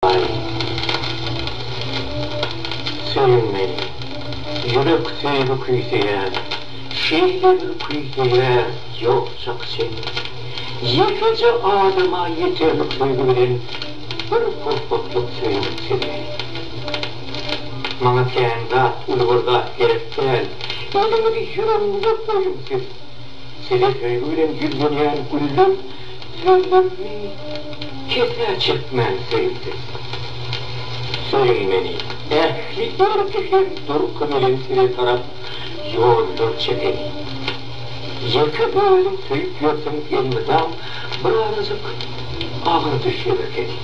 Aý, söýülmeli ýürek söýgi küýseýär, şeýle bir küýseýär, ýokjak çyn. Ýekeje adama ýeterlik söýgi bilen bir pursatlyk söýgüp siňýär. Maňa kän zat, uly bir zat gerek däl, eliňizi ýüregiňize goýuň siz. Size söýgi bilen ýüzlenýän güller, Söýmekmi? Kesä çekmän söýüldim. Söýüň meni! Ähli erki hem durky bilen size tarap ýollar çekeni. Ýeke özüm söýüp ýörsem elmydam birazajyk agyr düşýär ekeni.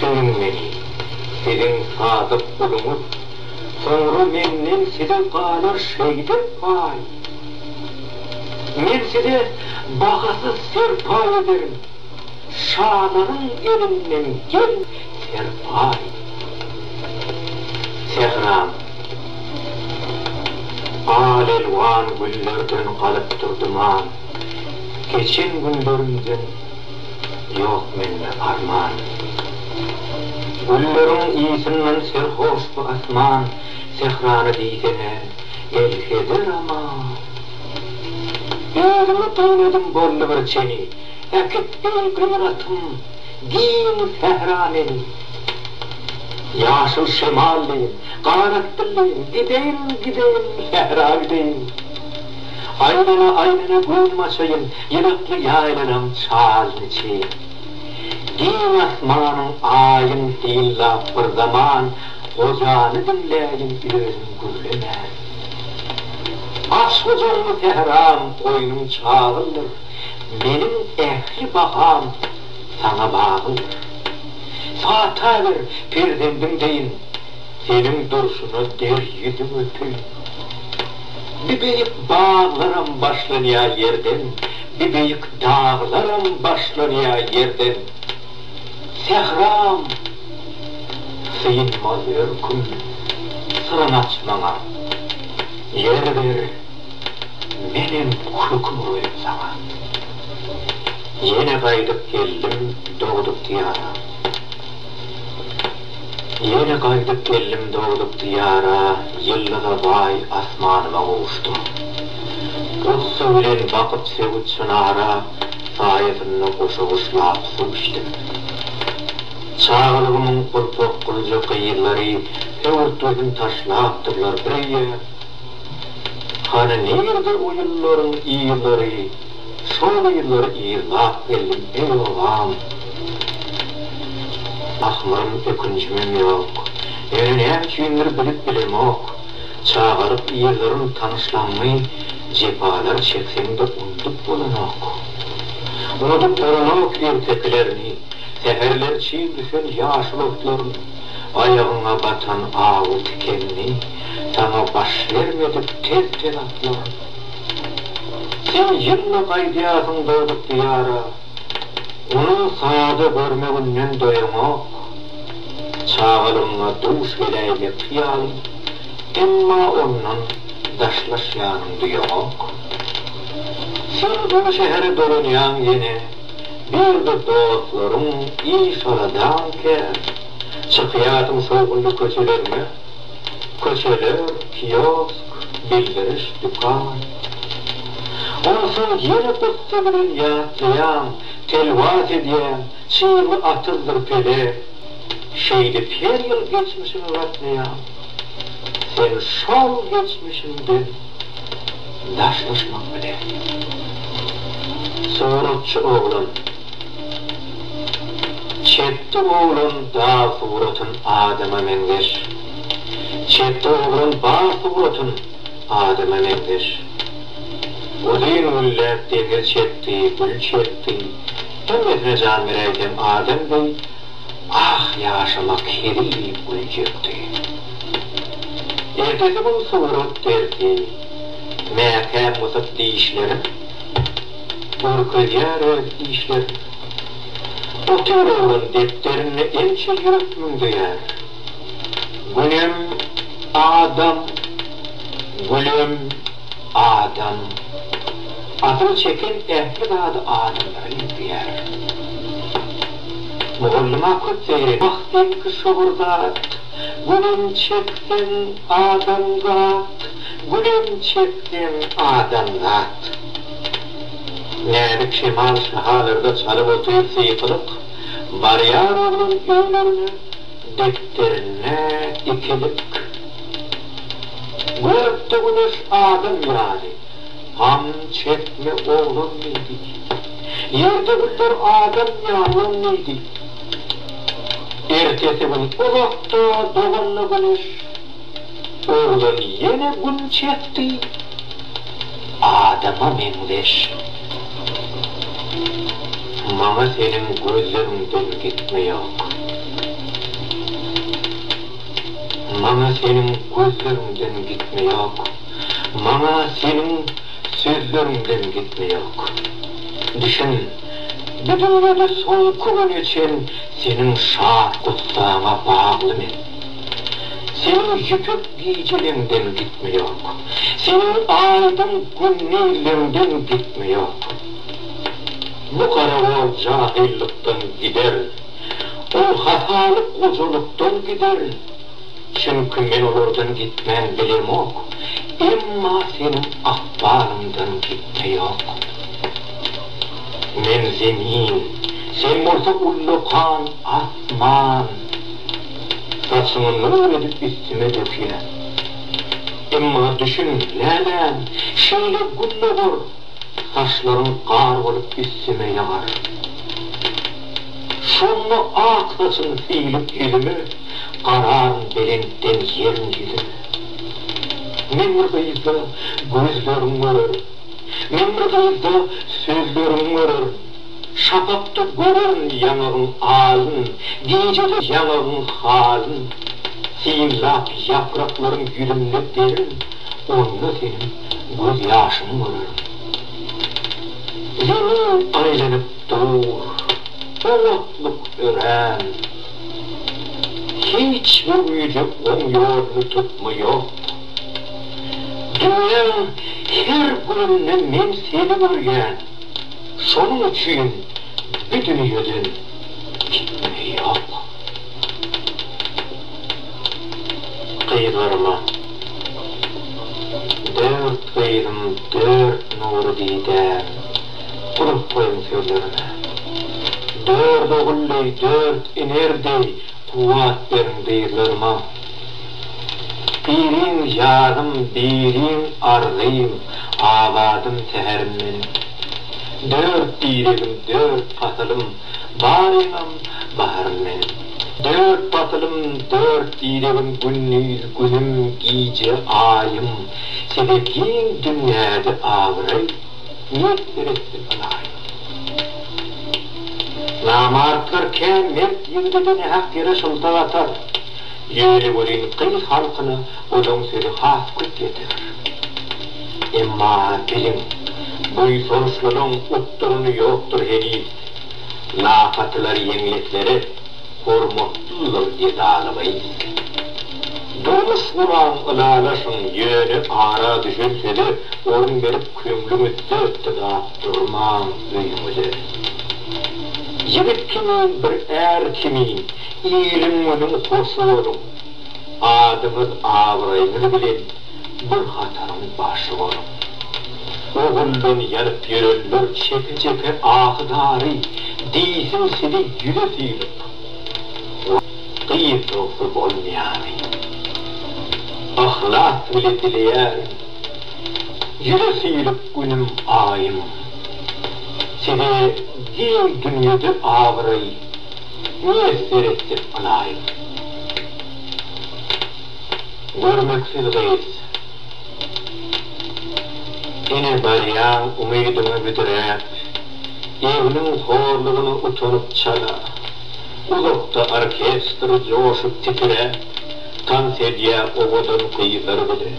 Söýüň meni! Siziň sadyk guluňyz. Soňra menden size galar şeýdip paý. Men size bahasyz serpaý ederin, şalaryň elinden gel serpaý. Sähram al-elwan güllerden galyp durdum-an, geçen günlerimden ýok mende arman. Gülleriň ysyndan serhoş bu asman, sährany diýsene. Elheder aman. Özüňe dyn edin boldy bir çeni. Äkit deý gyratym giň sähra meni. Ýaşyl şemal deýin, garat dil deýin, gideýin, gideýin, sähra gideýin. Aýlana, aýlana göwnüm açaýyn, ýylykly ýaýlalam çalny çyn. Giň asmanyň, aýyň hillap bir zaman. Gojany diňläýin özüň gürlemän. Başgojaňmy sähram goýnuň çagyldyr, Meniň ähli baham saňa bagyldyr. Pata ber perzendiň deýin, Seniň durşuna der ýüzüň öpüň. Bibeýik baglaram başlanýa ýerden, Bibeýik daglaram başlanýa ýerden. Sähram synmaz örküm syryň aç maňa Ýer ber menem köküm olayyn saňa Ýene gaýdyp geldim dogduk diýara Ýene gaýdyp geldim dogduk diýara Ýyldyza baý asmanyma gowuşdym Gussa bilen bakyp söwüt çynara saýasynda goşa-goşlap suw içdim. Çagalygymyň gurpakgynja gyzlary höwürtgesini taşlapdyrlar bir öýe. Hany nirde o ýyllaryň yzlary, şol yzlary yzlap geldim, eý obam. Ahmyrym, ökünjimem ýok. Ýöne näme üçindir bilip bilemok, Çagalyk ýyllaryň tanyşlaňňy jepalar çekseň-de unudyp bolanok. Unudyp bolanok ertekilerini, säherler çig düşen ýaşyl otlaryny, aýagyňa batan awy tikenini, saňa baş bermedik tez-tez atlaryny. Sen ýylda gaýdýarsyň dogduk diýara, ony sada görmeginden doýaňok. Çagalygyňa duş geläýmekçi ýaly. Emma ondan daşlaşýanyň duýaňok. Sen bu şähere dolanýaň ýene, bir-de dostlaryň iş aradan kän. Çykýarsyň şowhunly köçeleriňe, köçeler, kiosk, bildiriş, dükan. Onsoň ýene gussa bilen ýatlaýaň, telwas edýäň. Çyrly atymdyr pele, şeýdip her ýyl geçmişiňi gatnaýaň. Sen şol geçmişiňden daşlaşmak bilen. Suratçy oglan. Çepde oglan dag suratyn adama meňzeş. Çepde oglan bag suratyn adama meňzeş. Uzyn gülläp deňiz çekdi, gül çekdi. Döw edme jan beräýseň adam deý, Ah, ýaşamak hezil diýip güljekdi. Ertesi gün surat dersi. Mäkäm gysyp dişlerin, Görkezýär öz işlerin. Otyr oglan depderinde Ençe ýürek müňzeýär. Günem, adam, gülem. Adam. Asyl çeken ähli zady adamlara ýüzleýär. Mugallyma köp seýre. Wagtynky şowur zat. Gülem çekseň, adamzat. Gülem çekseň, adamzat. Näzik şemal şahalarda çalyp otyr syýkylyk, Barýar oglan öýlerine, depderinde ikilik. Görüpdi Güneş adam ýaly. Gam çekme, oglan diýdi. Ýerde güller adam ýalan diýdi. Ertesi gün uzakda doganda Güneş oglan ýene gün çekdi. Adama meňzeş. Maňa seniň gözleriňden gitme ýok. Maňa seniň gözleriňden gitme ýok, Maňa seniň sözleriňden gitme ýok. Düşün, bu dünýede soňky güne çen Seniň şat gussaňa bagly men. Seniň ýüpek gijeleňden gitme ýok, Seniň aýdyň gündizleňden gitme ýok. Bu gara ol jahylykdan gider. Ol hasalyk gojalykdan gider. Çünki men olardan gitmän bilemok. Emma seniň ykbalyňdan gitme ýok. Men zemin, sen bolsa ullakan asman. Saçyňy nur edip üstüme dökýän. Emma düşün, läläm, şeýle gün dogar, saçlaryň gar bolup üstüme ýagar. Şonda ak saçym süýlüp ýüzüme, Gararyn belentden ýeriň ýüzüne. Men bir gyzda gözleriň görerin, Men bir gyzda sözleriň görerin. Şapakda görerin ýaňagyň alyn, Gijede ýaňagyň halyn. Synlap ýapraklaryň ýüzünde derin, Onda seniň gözýaşyňy görerin. Zemin aýlanyp, Dur, bu otluk örän. Hiç bir güýjük oň ýoluny tutmaýok. Dünýäň her gününde men seni görýän, şonuň üçin bi dünýeden gitmeýok. Gyzlaryma, Dört gyzym, dört nury didäm. Gurap goýuň sözlerime. Dört ogul deý, dört iner deý kuwwat beriň dyzlaryma. Biriň janym, biriň arzym, abadym, säherim meniň. Dört diregim, dört pasylym, baryňam baharym meniň. Dört pasylym, dört diregim, gündiz günüm, gije aýym, size giň dünýäde abraý. Mert ýürekli ylaýym. Namartlar kän mert ýigidede nähak ýere şyltak atar. Ýöne welin gyz halkyna olaň sözi has köp ýeter. Emma biliň, buýsançlylyň utduryny ýokdur heniz. Lakatylar ýeňlekleri hormatlydyr edaly gyz. Durmuş guran ylalaşyň ýöne ara düşen söze orun berip köňlüňi dötdügap durmaň öýüňize. Ýigit kimin bir är kimin iliň günüň hoş boluň. Adyňyz abraýyňyz bilen bir hataryň başy boluň. Oguldan ýanyp ýörenler çeke çeke ahy dary diýsin sizi ýüze sylyp. Gyz bolsa bolmaýany. Yhlas bile dileýärin. Ýüze süýrüp günüm aýym. Size giň dünýede abraý miýesser etsek mylaýym. Görmeksiz gyz. Ine barýaň umydyňy büdräp. Egniň horlugyna utanyp çala. Uzakda orkestr joşup titrä, Tans edýä owadan gyzlar bile.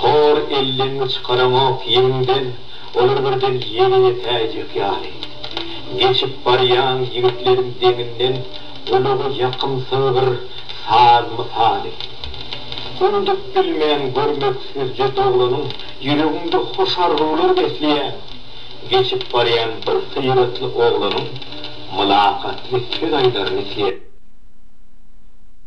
Hor elleňňi çykaraňok ýegiňden, Olar birden ýere ýetäýjek ýaly. Geçip barýaň ýigitleriň deňinden, Gulaga ýakymsyz bir saz mysaly. Unudyp bilmen görmek süzje doglanyň, Ýüregiňde hoş arzuwlar besleýän. Geçip barýan bir syratly oglanyň. Mylakatly söz aýdar misli.